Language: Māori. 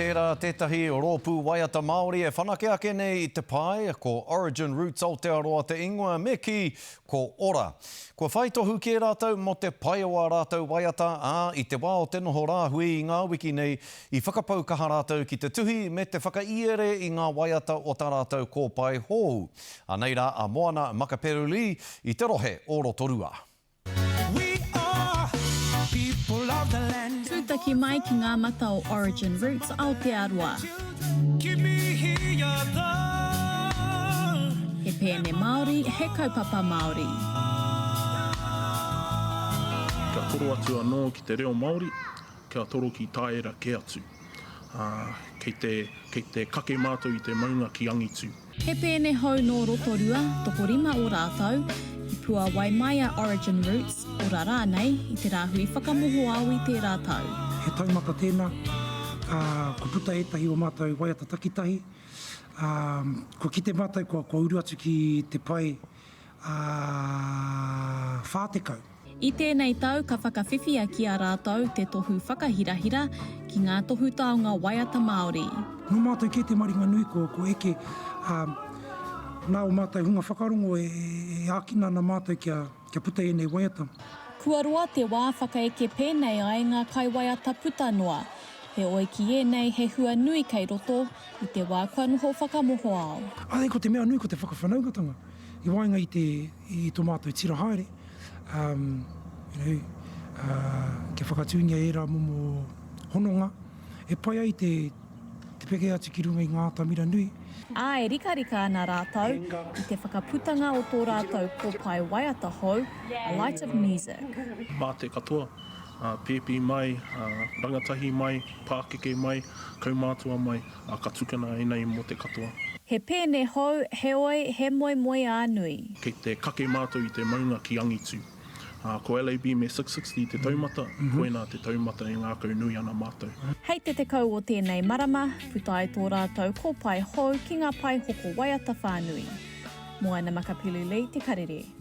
Tērā tētahi rōpū waiata Māori e whanake ake nei i te pae, ko Origin Roots Aotearoa te ingoa, me kī, ko ora. Kua whai tohu kē rātou mō te pai o ā rātou waiata, ā, i te wā o te noho rāhui i ngā wiki nei, i whakapau kaha rātou ki te tuhi me te whakaiere i ngā waiata o tā rātou kōpae hou. Anei rā a Moana Makaperu-Lee i te rohe o Rotorua. Tūtaki mai ki ngā mata o Origin Roots Aotearoa. He pēne Māori, he kaupapa Māori. Kia toro atu anō ki te reo Māori, kia toro ki tāera kē atu. Kei te kake mātou i te maunga ki angitu. He pēne hou nō Rotorua, tokorima o rātou, i puāwai mai a Origin Roots, ora rānei, i te rāhui whakamohoao i tērā tau. He taumata tēnā, ā, kua puta ētahi o mātou waiata takitahi, ā, kua kite mātou kua, kua uru atu ki te pae. ā, whā tekau. I tēnei tau ka whakawhiwhia ki a rātou te tohu whakahirahira ki ngā tohu taonga waiata Māori. Nō mātou kē te maringa nui ko eke, ā, nā ō mātou hunga whakarongo e ākina ana mātou kia puta ēnei waiata. Kua roa te wā whakaeke pēnei ai ngā kaiwaiata puta noa. Heoi ki ēnei he hua nui kei roto, i te wā kua noho whakamohoao. Āe, ko te mea nui ko te whakawhanaungatanga i waenga i te, i tō mātou tira haere, um, you know, uh, kia whakatūngia ērā momo hononga e pai ai te, te peke atu ki runga i ngā atamira nui. Ā, e rikarika ana rātou i te whakaputanga o tō rātou kōpae waiata hou, A Light of Music. Mā te katoa. Pēpi mai, rangatahi mai, pākeke mai, kaumātua mai, ka tukuna e nei mō te katoa. He pēne hou, heoi, he moemoeā nui. Kei te kake mātou i te maunga ki angitu. Ko LAB me Six Sixty te taumata, koinā te taumata e ngākau nui ana mātou. Hei te tekau o tēnei marama, puta ai tō rātou kōpae hou ki ngā pae hoko waiata whānui. Moana Makapilulei Te Karere.